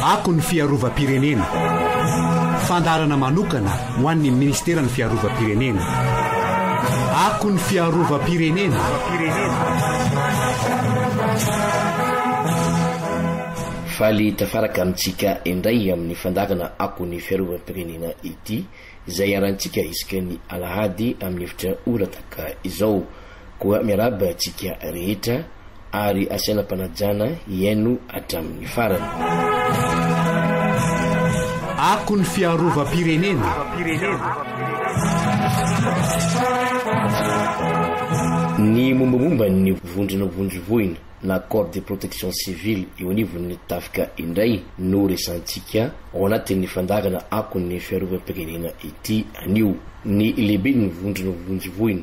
Ako ny fiarovam-pirenena. Fandaharana manokana ho an'ny Ministeran'ny Fiarovam-pirenena. Ako ny fiarovam-pirenena. Faly tafaraka amintsika indray amin'ny fandaharana Ako ny fiarovam-pirenena ity, izay iharantsika isaky ny alahady amin'ny efitra ora tahaka izao. Koa miarahaba antsika rehetra ary asaina am-panajana hihaino hatramin'ny farany. Ako ny fiarovam-pirenena. Ny mombamomba ny vondrona vondro voina na corps de protection civile eo anivon'ny tafika indray no resantsika ao anatin'ny fandaharana Ako ny fiarovam-pirenena ity anio. Ny lehiben'ny vondrona vonjy voina.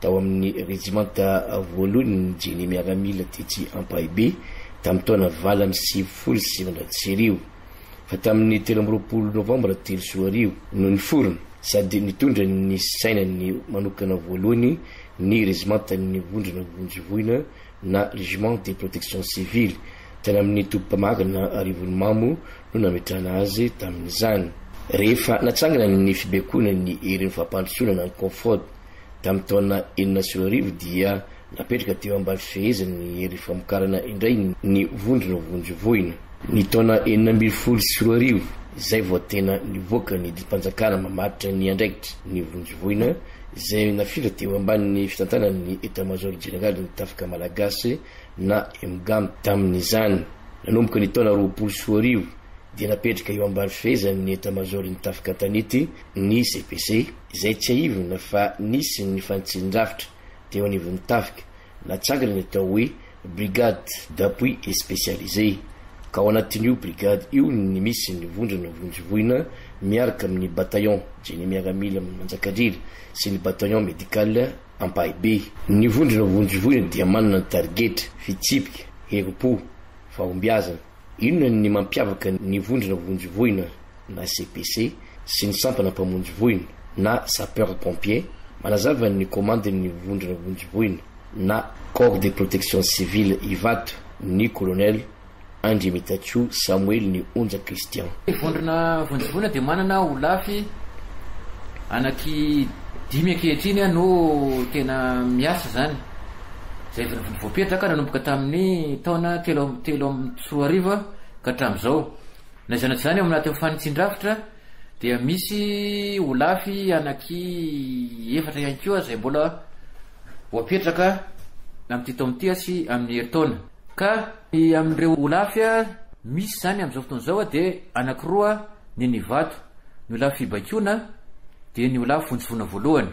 tao amin'ny rejimanta voalohan'ny Génie miaramila tetsy Ampahibe tamin'ny taona valo amby sivifolo sy sivinjato sy arivo, fa tamin'ny telo amby roapolo novambra telo sy roa arivo no niforona sady nitondra ny sainany manokana voalohany ny rezimantan'ny vondrona vonjy voina na Régiment de Protection Civile tany amin'ny toby mpamarina Arivonimamo no nametrahana azy tamin'izany. Rehefa natsangana ny fibaikoana ny herin'ny fampandrosoana na ny Confrod, Tamin'ny taona enina sy roa arivo dia napetraka teo ambany fifehezan'ny Hery Famokarana indray ny vondrona vonjy voina. Ny taona enina ambin'ny folo sy roa arivo izay vao tena nivoaka ny didim-panjakana mamaritra ny andraikitry ny vonjy voina izay nafindra teo ambanin'ny fitantanan'ny Etamazaoro Jeneralin'ny Tafika Malagasy na Emgam. Tamin'izany nanomboka ny taona roapolo sy roa arivo dia napetraka eo ambany fifehezan'ny Etamazaoron'ny Tafika An-tanety ny CPC. izay tsiahivina fa nisy ny fanitsian-drafitra teo anivon'ny tafika natsangana ny atao hoe Brigade d'appui spécialisé, ka ao anatin'io brigade io ny misy ny vondrona vonjivoina miaraka amin'ny Bataillon Génie Miaramila Manjakandriana sy ny Bataillon Médical Ampahibe. Ny vondrona vonjivoina dia manana ny tarigetra, fitsipika, herim-po, fahombiazana, Inona ny mampiavaka ny Vondrona Vonjy Voina na CPC sy ny Sampana Mpamonjy Voina na Sapeurs Pompiers? Manazava ny Komandin'ny Vondrona Vonjy Voina na Corps de Protection Civile Ivato ny Kolonel Andriamitatsoa Samoely Ny Onja Christian. Ny Vondrona Vonjy Voina dia manana holafy anaky dimy ankehitriny no tena miasa izany. izay voapetraka nanomboka tamin'ny taona telo amby telo amby sy roa arivo ka hatramin'izao. Na izany na tsy izany, ao anatin'ny fanitsin-drafitra dia misy holafy anaky efatra ihany koa izay mbola voapetraka amin'ity taona ity sy amin'ny herintaona. Ka ny amin'ireo holafy misy izany amin'izao fotoana izao dia anankiroa ny an'Ivato, ny holafy fibaikoana dia ny holafy vonjivoana voalohany.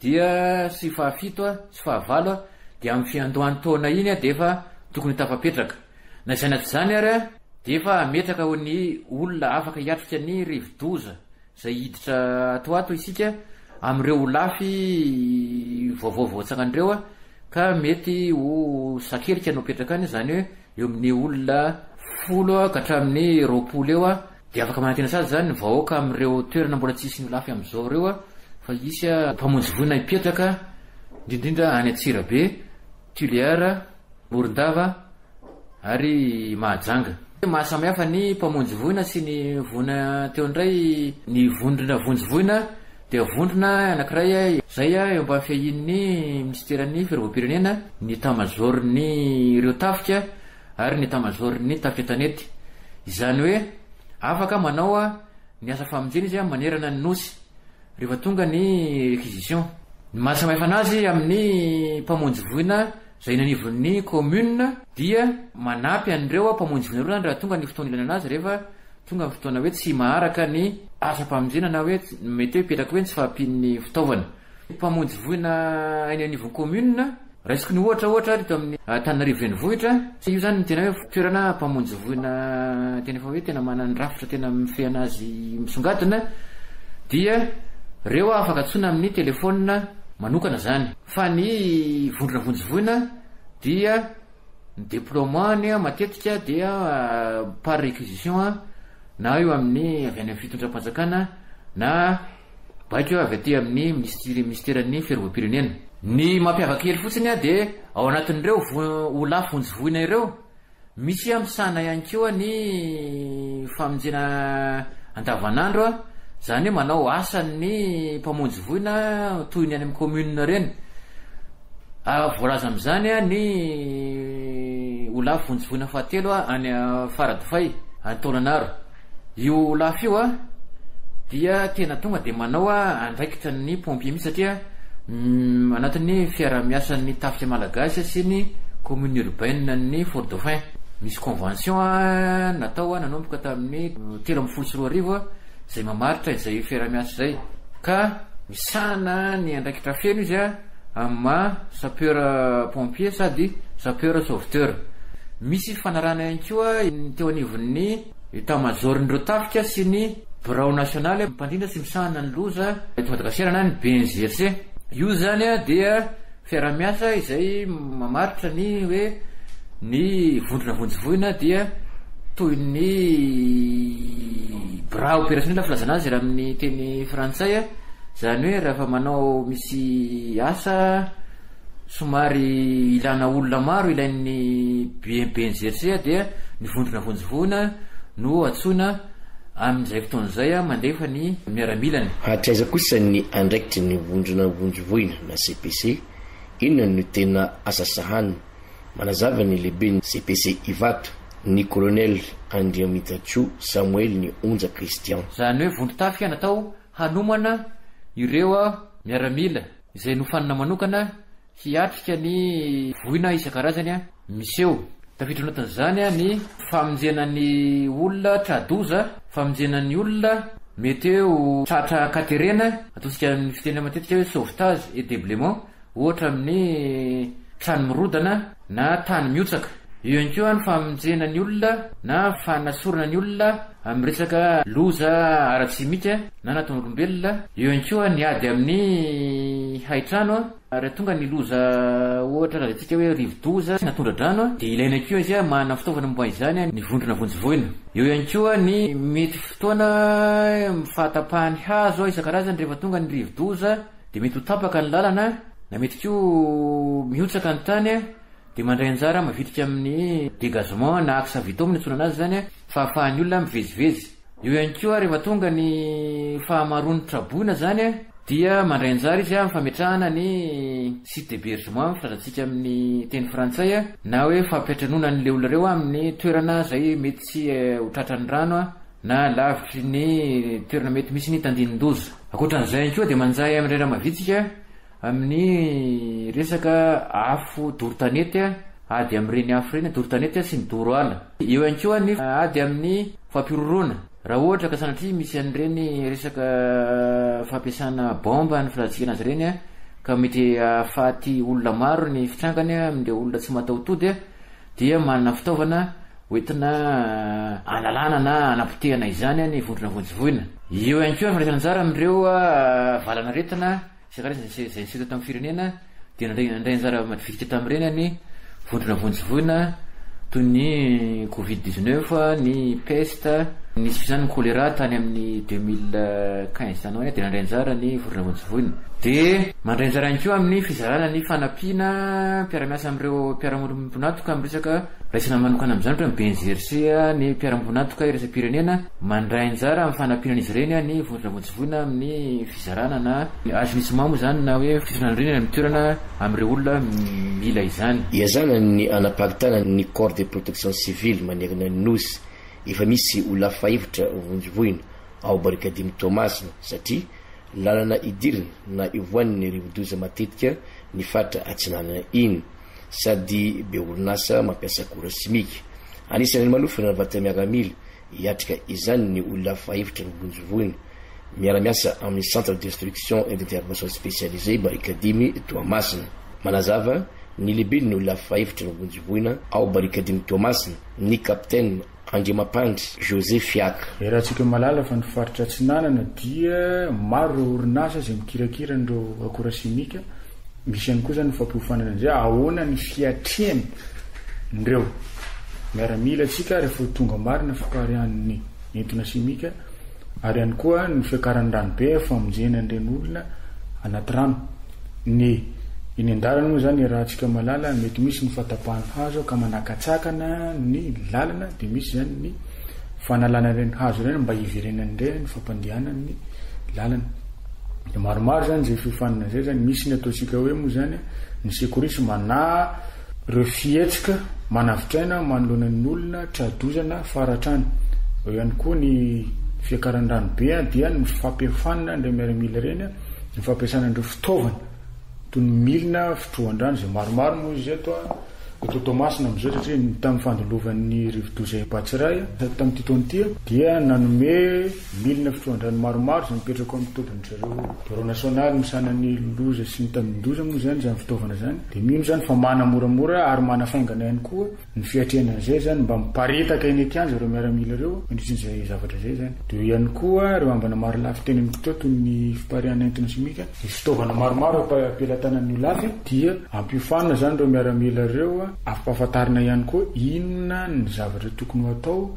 dia sy fahafito sy fahavalo dia amin'ny fiandohan'ny taona iny dia efa tokony ho tafapetraka. Na izany na tsy izany ary dia efa hametraka ho ny olona afaka hiatrika ny rivodoza izay hiditra ato ato isika amin'ireo holafy vaovao voatsangan'ireo ka mety ho sakelika no apetraka any izany hoe eo amin'ny olona folo ka hatramin'ny roapolo eo dia afaka manantena sazy izany ny vahoaka amin'ireo toerana mbola tsy hisy ny holafy amin'izao ireo fa hisy mpamonjy voina hipetraka indrindrindra any Antsirabe, Tuléar, Morondava ary Mahajanga. Mahasamihafa ny mpamonjy voina sy ny voina teo indray ny vondrona vonjy voina. Dia vondrona anankiray izay eo ambany fiahian'ny minisiteran'ny Firaboampirenena, ny Etamazaoron'ireo Tafika ary ny Etamazaoron'ny Tafika an-tanety. Izany hoe afaka manao ny asa famonjena izy manerana ny Nosy rehefa tonga ny réquisition. Ny maha-samy hafa anazy amin'ny mpamonjy voina Izay eny anivon'ny commune dia manampy an'ireo mpamonjy vonerona any raha tonga ny fotoana ilainana azy rehefa tonga ny fotoana hoe tsy maharaka ny asam-pamonjena na hoe mety hoe hipetraka hoe ny tsy fahampian'ny fitaovana. Mpamonjy voina eny anivon'ny commune, raisiko ny ohatra ohatra teto amin'ny Antananarivo renivohitra, io izany no tena hoe toerana mpamonjy voina tena efa hoe tena manana ny rafitra tena mifehy an'azy misongadina dia ireo afaka antsoina amin'ny telephone manokana izany. Fa ny vondrona vonjivoina dia ny deploiement-ny matetika dia par réquisition na eo amin'ny avy any amin'ny fitondram-panjakana na baiko avy aty amin'ny minisiteran'ny fiarovam-pirenena. Ny mampiavaka kely fotsiny dia ao anatin'ireo vo olà vonjivoina ireo, Misy aho misahana ihany koa ny famonjena andavanandro, izany hoe manao asan'ny mpamonjy voina toy ny any amin'ny commune ireny. Voalaza amin'izany ny ho lavo vonjy voina fahatelo any Faradofay, any Taolagnaro. Io Olaf io a dia tena tonga dia manao a andraikitra ny pompier mihitsy satria ny anatin'ny fiarahamiasan'ny tafika malagasy sy ny commune urbaine ny fort dauphin misy convention a natao a nanomboka tamin'ny telo ambin'ny folo sy roa arivo izay mamaritra izay fiarahamiasa izay ka misahana ny andraikitra feno izy a amin'ny maha sapeur pompier sady sapeur sauveteur. Misy fifanarahana ihany koa ny teo anivon'ny Etat Major-n'ireo tafika sy ny Birao nasionaly mpandrindra sy misahana ny loza eto Madagasikara na ny BNGRC. Io izany dia fiaraha-miasa izay mamaritra ny hoe ny vondrona vonjivoina dia toy ny bras opérationnel filazana azy raha amin'ny teny frantsay. Zany hoe raha efa manao misy asa somary ilana olona maro ilain'ny BNPNGC dia ny vondrona vonjivoana no antsoina amin'izay fotoana izay mandefa ny miaramilany. Hatraiza kosa ny andraikitry ny vondrona vonjivoina na CPC? Inona no tena asa sahaniny? Manazava ny lehiben'ny CPC Ivato, ny Kolonely Andriamitantsoa Samoel Nionja Christian. Zany hoe vondron-tafika natao hanomana ireo miaramila izay nofanina manokana hiatrika ny voina isan-karazany miseho. Tafiditra ao anatin'izany ny famonjena ny olona tra-doza, famonjena ny olona mety ho tratra an-katerena, ataontsika amin'ny fiteny matetika hoe sauvetage et deblement, ohatra amin'ny trano mirodana na tany mihotsaka. Eo ihany koa ny famonjena ny olona na fanasorana ny olona amin'ny resaka loza ara-tsimika na anatin'olombelona, eo ihany koa ny ady amin'ny haitrano raha tonga ny loza ohatra lazaintsika hoe rivodoza na tondra-drano dia ilaina koa izy manana fitaovana momba izany ny vondrona vonjy voina. Eo ihany koa ny mety fotoana fahatapahan'ny hazo isan-karazany rehefa tonga ny rivodoza. dia mety ho tapaka ny lalana na mety koa mihotsaka ny tany dia mandray anjara mavitrika amin'ny dégagement na axe vitom no iantsoana anazy izany fahafahan'ny olona mivezivezy. Eo ihany koa rehefa tonga ny fahamaroan'ny traboina izany dia mandray anjara izy amin'ny fametrahana ny site d'hébergement filazantsika amin'ny teny frantsay na hoe fampiantranoana an'ireo olona ireo amin'ny toerana izay mety tsy ho tratran'ny rano na lavitry ny toerana mety misy ny tandinin-doza. Ankoatran'izay ihany koa dia manjary amin'ny rera-mavitsika amin'ny resaka afo doro tanety, ady amin'ireny afo ireny doro tanety sy ny doro ala. Eo ihany koa ny ady amin'ny fampihorohoroana raha ohatra ka sanatria misy an'ireny resaka fampiasana baomba ny filatsihana azy ireny ka mety hahafaty olona maro ny fitrangany amin'ireo olona tsy mataho-tody dia manana fitaovana hoentina analana na hanapotehana izany ny vondrona vonjivoina. Eo ihany koa ny fandraisana anjara amin'ireo valanaretina isan-karazany izay niseho teto amin'ny firenena dia nandray nandray anjara madividitika tamin'ireny ny vondrona vonjivoina toy ny covid dix neuf, ny peste, nisy koa izany ny choléra tany amin'ny deux mille quinze tany ho any dia nandray anjara ny vondrona vonjivoina. Dia mandray anjara ihany koa amin'ny fizarana ny fanampiana mpiara-miasa amin'ireo mpiara-monina mponatoka amin'ny resaka. Raisina manokana amin'izany ohatra ny ben'ny GRC, ny mpiara-miombon'antoka iraisam-pirenena mandray anjara amin'ny fanampiana an'izy ireny ny vondrona vonjivoina amin'ny fizarana na assainissement moa izany na hoe fisondrana rindrina ny toerana amin'ireo olona mila izany. Iazana ny hanaparitana ny corps de protection civile manerana ny Nosy, efa misy olona fahefitra vonjivoina ao Barikadimy Toamasina satria lalana idirana na ivoahan'ny rivodoza matetika ny faritra atsinanana iny. sady be orinasa mampiasa akora simika. Anisan'ny manofana ny vata-miaramila hiatrika izany ny olona fahefatra no vonjivoina. Miara-miasa amin'ny Centre de Destruction et d'Intervention Spécialisée Barikadimy Toamasina. Manazava ny lehiben'ny olona fahefatra no vonjivoina ao Barikadimy Toamasina ny Capitaine. Andriamampandry José Fiaka. Iarahantsika mahalala fa ny faritra Atsinanana dia maro ireo orinasa izay mikirakira an'ireo akora simika. Misy ihany koa izany ny fampiofanana an'izay. Ahoana ny fiatrehany ireo miaramila antsika ary efa ho tonga marina fipariahan'ny entona simika ary ihany koa ny fiakaran'ny ranobe amin'ny famonjena an'ireny olona anaty rano. Ny eny an-dalana moa izany raha antsika mahalala mety misy ny fatapahan'ny hazo ka manakatsakana ny lalana dia misy izany ny fanalana ireny hazo ireny mba hiverenany indray ny fampandehanan'ny lalana. Dia maromaro izany izay fiofanana izay izany. Misy ny ataontsika hoe moa izany ny secourisme na Ireo fihetsika manavotr'aina manoloana ny olona, tra-dozana, fara-trano. Eo ihany koa ny fiakaran'ny ranobe dia ny fampiofanana an'ireny miaramila ireny, ny fampiasana an'ireo fitaovana toy ny milina fitrohan-drano izay maromaro moa izy eto eto Toamasina amin'izao satria ny tamin'ny fandilovan'ny rivodoza Ebatsiray tamin'ity taona ity dia nanome Milina fitrohan-drano maromaro izay mipetraka ao amin'ny tobin-dry zareo. Birao nasionaly misahana ny loza sy ny tambin-doza moa izany izany fitaovana izany, dia mino izany fa mana moramora ary manafaingana ihany koa ny fiatrehana an'izay izany mba miparitaka eny an-kianja ireo miaramila ireo mandritra izay zavatra izay izany. Dia eo ihany koa ireo ambana marolafy teny amin'ny kitrao toy ny fipariahana entona simika. Ny fitaovana maromaro am-pelatanan'ny holafy dia ampiofanina izany ireo miaramila ireo, afa-pahafantarina ihany koa inona ny zavatra tokony ho atao,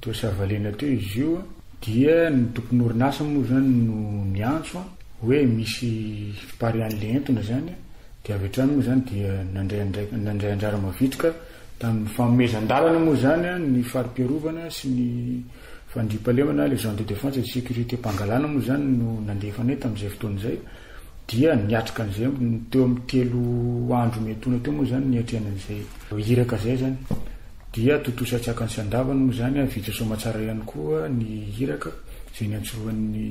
Teo Savalena teo izy io a, dia ny tompon'orinasa moa izany no niantso a, hoe misy fiparihan'ilay entona izany a, dia avy hatrany moa izany dia nandray andraik- nandray anjara mavitrika tamin'ny fanomezan-dalana moa izany a, ny fari-piarovana sy ny fandriampahalemana, les gens de défense et de sécurité, mpangalana moa izany no nandefa anay tamin'izay fotoana izay, dia niatrika an'izay teo amin'ny telo andro miantoana teo moa izany niatrehana an'izay iraka izay izany. Dia tontosa an-tsakany sy an-davany moa izany vita soamatsara ihany koa ny iraka izay niantsoan'ny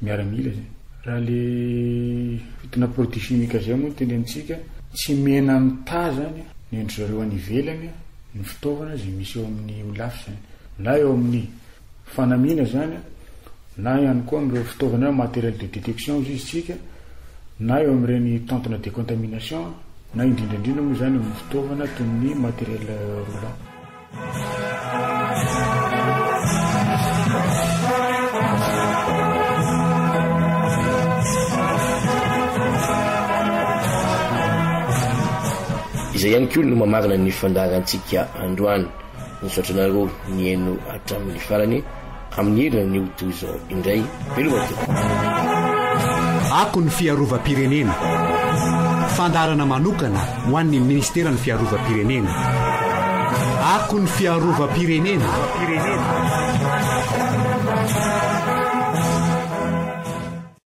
miaramila izay. Raha ilay fitonà produits chimiques izay moa no tendenintsika, tsy mena mitaha izany ny an-dry zareo any ivelany ny fitaovana izay misy eo amin'ny Olaf izany, na eo amin'ny. fanamiana izany na ihany koa amin'ireo fitaovana hoe matériel de détection hozy izy tsika na eo amin'ireny tentona de contamination na indrindra indrindra moa izany amin'ny fitaovana toy ny matériel roulant. Izay ihany koa no mamarana ny fandaharantsika androany. Misaotra anareo nihaino hatramin'ny farany. Amin'ny heriny ny ho toy izao indray. Veloma tompoko. Ako ny fiarovam-pirenena. Fandaharana manokana ho an'ny Ministeran'ny Fiarovam-pirenena. Ako ny fiarovam-pirenena.